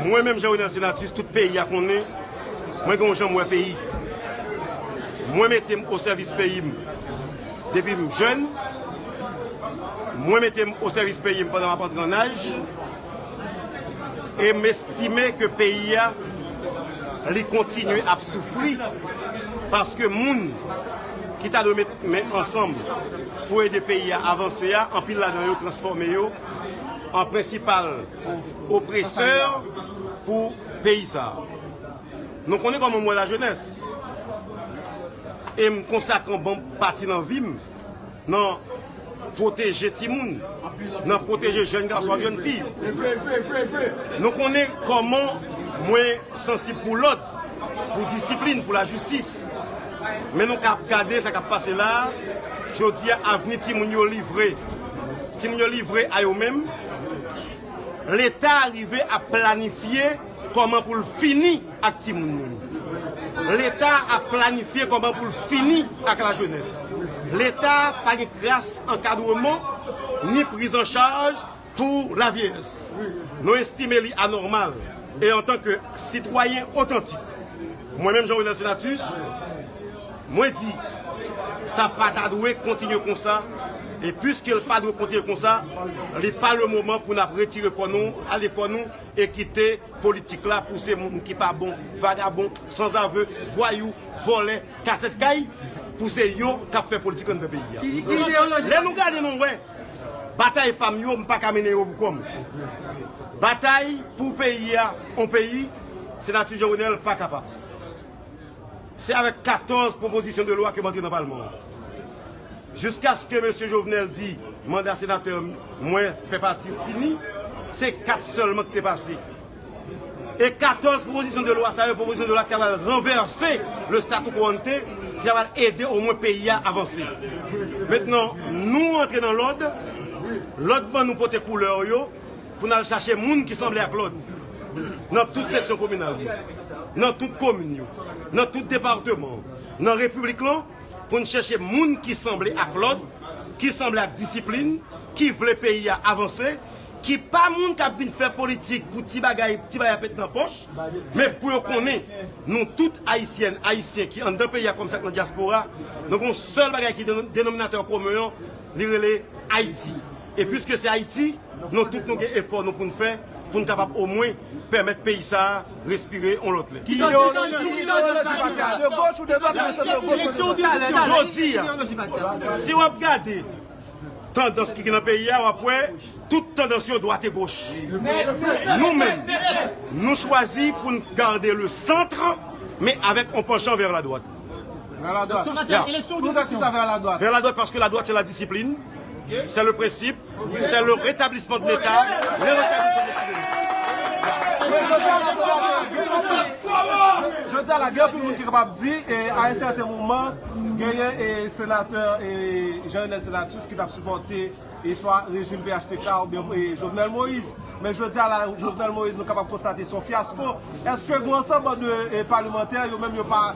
Mwen menm Jean Renel Senatus tout peyi a konnen mwen gen yon jan m wè peyi. Mwen mete m o sèvis peyi m depi m jèn, mwen mete m o sèvis peyi m pandan m ap antre an aj e m estime ke peyi a li kontinye ap soufri paske moun ki ta dwe met men ansanm pou ede peyi a avanse a anpil ladan yo transfòme yo an prensipal pou opresè pou peyi sa. Nou konnen kòman mwen la jenès. E m konsakran bon pati nan vi m nan pwoteje timoun, nan pwoteje jèn gason ak jèn fi. Nou konnen kòman mwen sansib pou lòd, pou disiplin, pou lajistis. Men nou ka ap gade sa k ap pase la a, jodi a avni timoun yo livre. Timoun yo livre a yo menm. Leta rive ap planifye kòman pou l fini ak timoun nou yo. Leta ap planifye kòman pou l fini ak lajenès. Leta pa gen kras ankadreman ni prizanchaj pou lavyeyès. Nou estime li anòmal e antanke sitwayen otantik, mwen menm Jean Renel Senatus, Mwen di, sa pa ta dwe kontinye konsa, e piske l pa dwe kontinye konsa, li pa le moman pou n ap retire kò nou, ale kò nou, e kite politik la pouse moun ki pa bon, vagabon, sanzave, vwayou, vòlè, kasèt kay, pou se yo k ap fè politik anndan peyi a. Lè nou gade nou wè, batay pa m yo, m pa ka mennen yo pou kò m. Batay pou peyi a, on peyi, Senatè Jovenel pa kapab. Se avèk 14 pwopozisyon de lwa ke m antre nan palman an. Jiskaske mesye Jovenel di manda senatè mwen fè pati ou fini, se 4 sèlman ki te pase. E 14 pwopozisyon de lwa sa yo, pwopozisyon de lwa ki ta pral ranvèse le statu quo ante, ki ta pral ede omwen peyi a avanse. Mentnan nou antre nan lòd, lòd ban nou pote koulè yo. pou n al chache moun ki sanble ak lòt nan tout seksyon kominal yo, nan tout komin yo, nan tout departeman an, nan repiblik lan, pou n chèche moun ki sanble ak lòd, ki sanble ak disiplin, ki vle peyi a avanse, ki pa moun k ap vin fè politik pou ti bagay, ti bay ap ret nan pòch, men pou yo konnen nou tout Ayisyèn, Ayisyen ki anndan peyi a kòm sa ki nan dyaspora, nou gen yon sèl bagay ki denominatè komen an, li rele Ayiti. E pwiske se Ayiti, nou tout nou gen efò nou pou n fè pou n kapab omwen pèmèt peyi sa a respire yon lòt lè. Ki ideyoloji pati a? De goch ou de dwat ou de sant de goch ou de dwat? Jodi a, si w ap gade tandans ki gen nan peyi a, w ap wè tout tandans yo dwat e goch. Nou menm, nou chwazi pou n gade le centre men avèk yon panchan vè la dwat. Vè la dwat? Ya. Pou nou fè kisa vè la dwat? Vè la dwat paske la dwat se la disiplin. Se le prensip, se le retablisman de leta, le retablisman de tout. Jodi a la gen anpil moun ki kapab di e a yon sèten moman genyen e senatè e Jean Renel Senatus ki tap sipòte e swa rejim phtk ou byen e Jovenel Moïse. Men jodi a la Jovenel Moïse nou kapab konstate son fyasko. Eske gou ansanb de e palemantè yo menm yo pa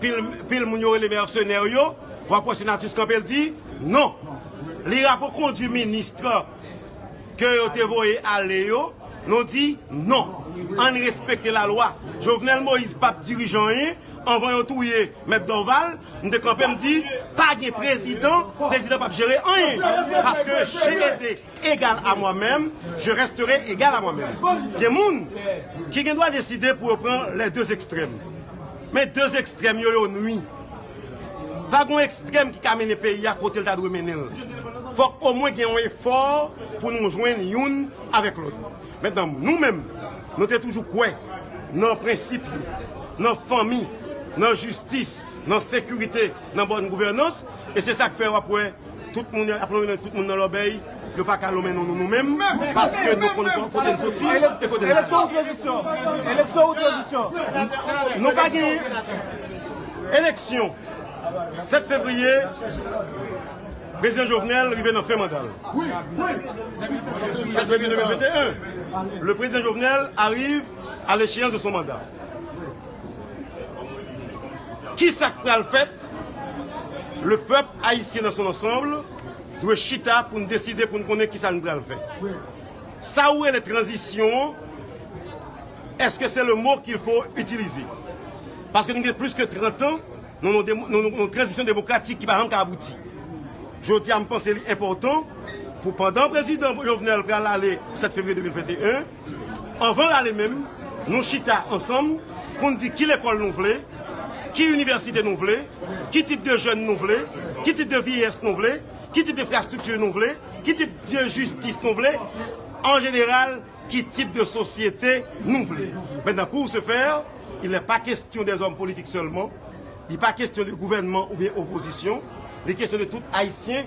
Pil moun yo rele mèsenè yo, wap wè Senatus kanpe l di non. Li rapokondwi ministre ke yo te voye ale yo, nou di non. Ann respekte lalwa. Jovenel Moïse pa t dirije anyen anvan yo touye Mèt Dorval, m te kanpe m di pa gen prezidan, prezidan pap jere anyen. Paske GED. Egal a mwa menm, je rèstere egal a mwa menm. Gen moun ki gen dwa deside pou yo pran lè de ekstrèm. Men de ekstrèm yo yo nwi. Pa gen yon ekstrèm ki ka mennen peyi a kote l ta dwe mennen l. Fòk omwen gen yon efò pou nou jwenn youn avèk lòt. Mentnan nou menm nou te toujou kwè nan prensip yo, nan fanmi, nan jistis, nan sekirite. nan bòn gouvènans e se sak fè wap wè tout moun ap lonmen nan tout moun nan lòbèy yo paka lonmen nan nou nou menm paske nou konn kote n soti e kote nap ale. Eleksyon ou tranzisyon? Eleksyon ou tranzisyon? Nou pa gen eleksyon 7 fevriye prezidan Jovenel rive nan fen manda l 7 fevriye 2021 le prezidan Jovenel arrive à l'echeyans de son manda. Kisa k pral fèt? Le pèp ayisyen dans son ensemble dwe chita pou n deside pou n konnen kisa n pral fè. Sa ou rele tranzisyon an, eske se le mo qu'il faut utiliser? Paske nou gen plis ke 30 an nan yon tranzisyon demokratik ki pa janm ka abouti. Jodi a m panse li enpòtan pou pandan prezidan Jovenel pral ale 7 fevriye 2021, Anvan l ale menm, nou chita ansanm pou n di ki lekòl nou vle, ki inivèsite nou vle, ki tip de jèn nou vle, ki tip de VIES nou vle, ki tip de frastrikti nou vle, ki tip de jistis nou vle, an jeneral, ki tip de sosyete nou vle. Mètnan, pou se fè, il nè pa kestyon dè zòm politik sèlman, li pa kestyon de gouvènman oubyen opozisyon, li kestyon de tout Ayisyen.